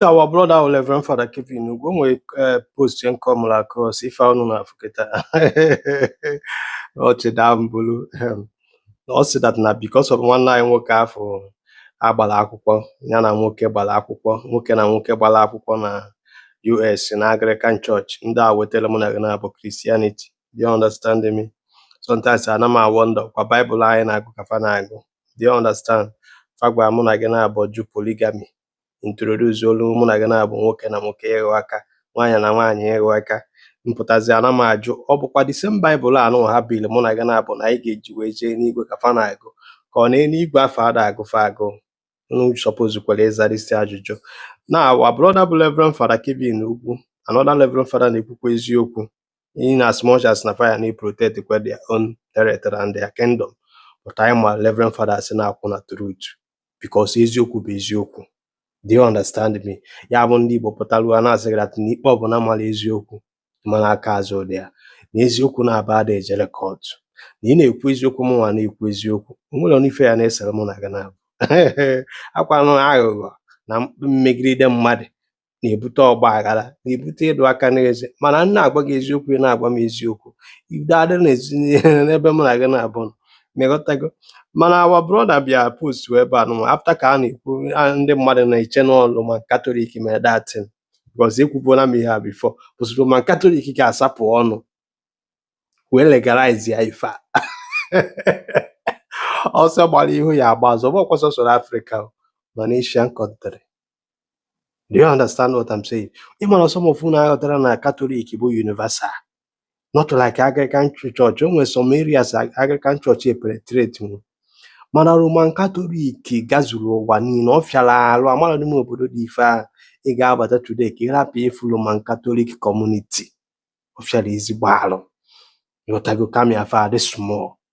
our brother our Reverend Father Kevin Ugwu, o nwere eh, post ya nke m come across ife unu na-afụ kịta ọchị daa mbulu Ehem. ọ sị that na because of nwanne anyị nwoke afụ agbara akwụkwọ ya na nwoke gbara akwụkwọ nwoke na nwoke gbara akwụkwọ na US na Anglican Church ndị a wetara mụ na gị naabọ Christianity do you understand me sometimes ana m awonder kwa Bible anyị na-agụ ka fa na-agụ do you understand fa gwara mụ na gị naabọ jụ polygamy introduce-ọlụ mụ na gị naabọ nwoke na nwoke ịghọ aka nwaanyị na nwaanyị ịghọ aka mpụtazi ana m ajụ ọ bụkwa the same Bible anụwa ha biri mụ na gị naabọ na anyị ga-eji wee jee enuigwe ka fa na-agụ ka ọ na eluigwe afụ ada agụ fa agụụ unu suppose kwara ịzarisi ajụjụ na our brother bụ Reverend Father Kevin Ugwu another Reverend Father na-ekwukwa eziokwu in as much as na fa ya na-protect kwa their own territory and their kingdom but anyị ma Reverend Father so na-akwụ na truth because eziokwu bụ eziokwu do you understand me ya bụ ndị Igbo pụtara ụwa na-asị gị that na ikpe ọbụla mara eziokwu ma na aka azụ dị ya na eziokwu naabọ ada ejere court na ị na-ekwu eziokwu mụnwa na-ekwu eziokwu o nwerọnụ ife ya na-esere mụ na gị naabọ akwanụ aghụghọ na mmegide mmadụ na-ebute ọgba aghara na-ebute ịdụ aka n'eze mana m na-agwa gị eziokwu ị na-agwa m eziokwu udo adị n'ezi n'ebe mụ na gị naabọ nọ. Ịghọtago? Mana our brother bịa post ebe a nụnwa after ka a na-ekwu a- ndị mmadụ na-eche na ọ Roman Katọlik mere that thing because ekwubuola m ihe a before but Roman Katọlik ga-asapụ ọnụ wee legalize ya ife a ọsọ gbara ihu ya agba azụ ọ bụkwa sọsọ Afrịka o, ma na Asian country Do you understand what I'm saying? Ị mara some of unu aghọtara na Catholic bụ universal. Not like Anglican church. O nwe some areas Anglican church epenetrate nwu. Mana Roman Catholic gazuru ụwa niile. Ọ fịara arụ amara n'ime obodo dị ife a. Ị ga-abata today ka ị rapụ ịfụ Roman Catholic community. Ọ fịara ezigbo arụ. Ịghọtago kama ya fa adị small.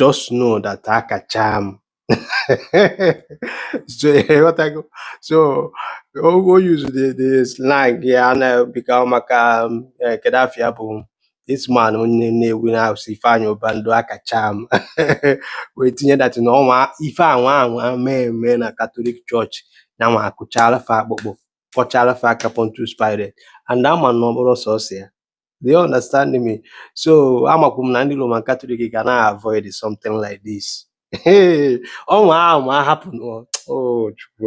just know that akacha m so ịghọtago so o o use the the slang ya na bika maka um, eh, kedu afa ya bụ this man onye na-ewu na house Ifeanyị Ụba ndo akacha m wee tinye that na ọnwa ife anwa anwa mee eme na Katọlik chọọchị na nwa akụchaala fa akpụkpọ kwọchaala fa aka Pontius Pilate and ama na ọ bụrụ sọsọ ya Do you understand me? So amakwu m na ndị Roman Katọlik ga na-avoid something like this. Ọnwa ama happen. Oh, Chukwu.